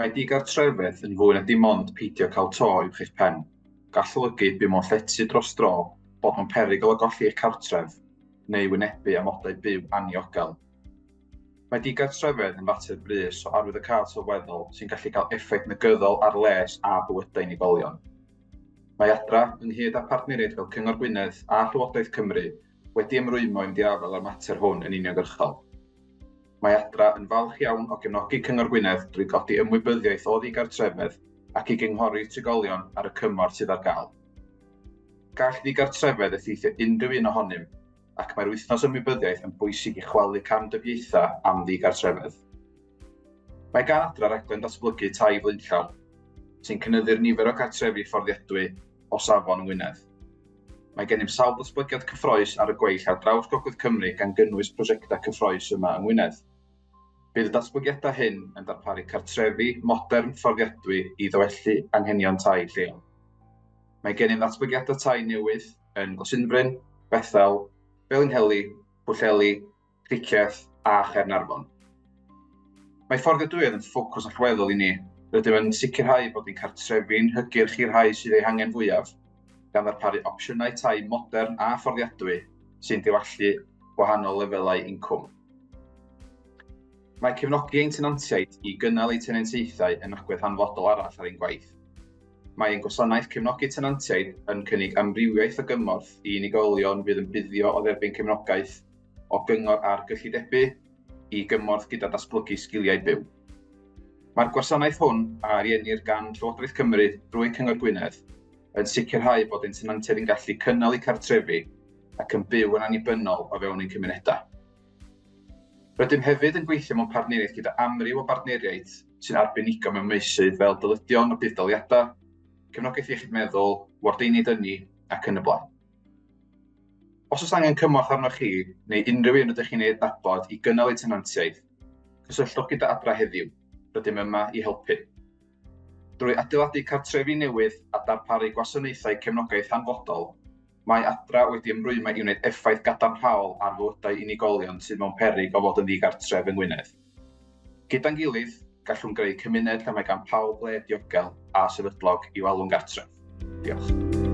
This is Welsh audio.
Mae digartrefedd yn fwy na dim ond peidio cael to uwch eich pen. Gall olygu byw mewn llety dros dro, bod mewn perygl o golli eich cartref, neu wynebu amodau byw anniogel. Mae digartrefedd yn fater brys o arwyddocâd sylweddol sy'n gallu cael effaith negyddol ar les a bywydau unigolion. Mae Adra, ynghyd â phartneriaid fel Cyngor Gwynedd a Llywodraeth Cymru, wedi ymrwymo i fynd i afael â'r mater hwn yn uniongyrchol. Mae Adra yn falch iawn o gefnogi Cyngor Gwynedd drwy godi ymwybyddiaeth o ddigartrefedd ac i gynghori trigolion ar y cymorth sydd ar gael. Gall ddigartrefedd effeithio unrhyw un ohonym, ac mae'r Wythnos Ymwybyddiaeth yn bwysig i chwalu camdybiaethau am ddigartrefedd. Mae gan Adra raglen ddatblygu tai flaenllaw, sy'n cynyddu'r nifer o gartrefi fforddiadwy o safon yng Ngwynedd. Mae gennym sawl datblygiad cyffroes ar y gweill ar draws Gogledd Cymru gan gynnwys prosiectau cyffroes yma yng Ngwynedd. Bydd y datblygiadau hyn yn darparu cartrefi modern fforddiadwy i ddywellu anghenion tai lleol. Mae gennym ddatblygiadau tai newydd yn Glasinfryn, Bethel, Felinheli, Pwllheli, Cricieth a Chaernarfon. Mae fforddiadwyedd yn ffocws allweddol i ni. Rydym yn sicrhau bod ein cartrefi'n hygyrch i'r rhai sydd eu hangen fwyaf, gan ddarparu opsiynau tai modern a fforddiadwy sy'n diwallu gwahanol lefelau incwm. Mae cefnogi ein tenantiaid i gynnal eu tenantiaethau yn agwedd hanfodol arall ar ein gwaith. Mae ein gwasanaeth cefnogi tenantiaid yn cynnig amrywiaeth o gymorth i unigolion fydd yn buddio o dderbyn cefnogaeth o gyngor ar gyllidebu i gymorth gyda datblygu sgiliau byw. Mae'r gwasanaeth hwn a ariennir gan Llywodraeth Cymru drwy Cyngor Gwynedd yn sicrhau bod ein tenantiaid yn gallu cynnal eu cartrefi ac yn byw yn annibynnol o fewn ein cymunedau. Rydym hefyd yn gweithio mewn partneriaeth gyda amryw o bartneriaid sy'n arbenigo mewn meysydd fel dyledion a budd-daliadau, cefnogaeth iechyd meddwl, wardeiniaid ynni ac yn y blaen. Os oes angen cymorth arnoch chi neu unrhyw un rydych chi'n ei adnabod i gynnal eu tenantiaeth, cysylltwch gyda Adra heddiw, rydym yma i helpu. Drwy adeiladu cartrefi newydd a darparu gwasanaethau cefnogaeth hanfodol, mae Adra wedi ymrwymo i wneud effaith gadarnhaol ar fywydau unigolion sydd mewn peryg o fod yn ddigartref yng Ngwynedd. Gyda'n gilydd, gallwn greu cymuned lle mae gan pawb le diogel a sefydlog i'w alw'n gartref. Diolch.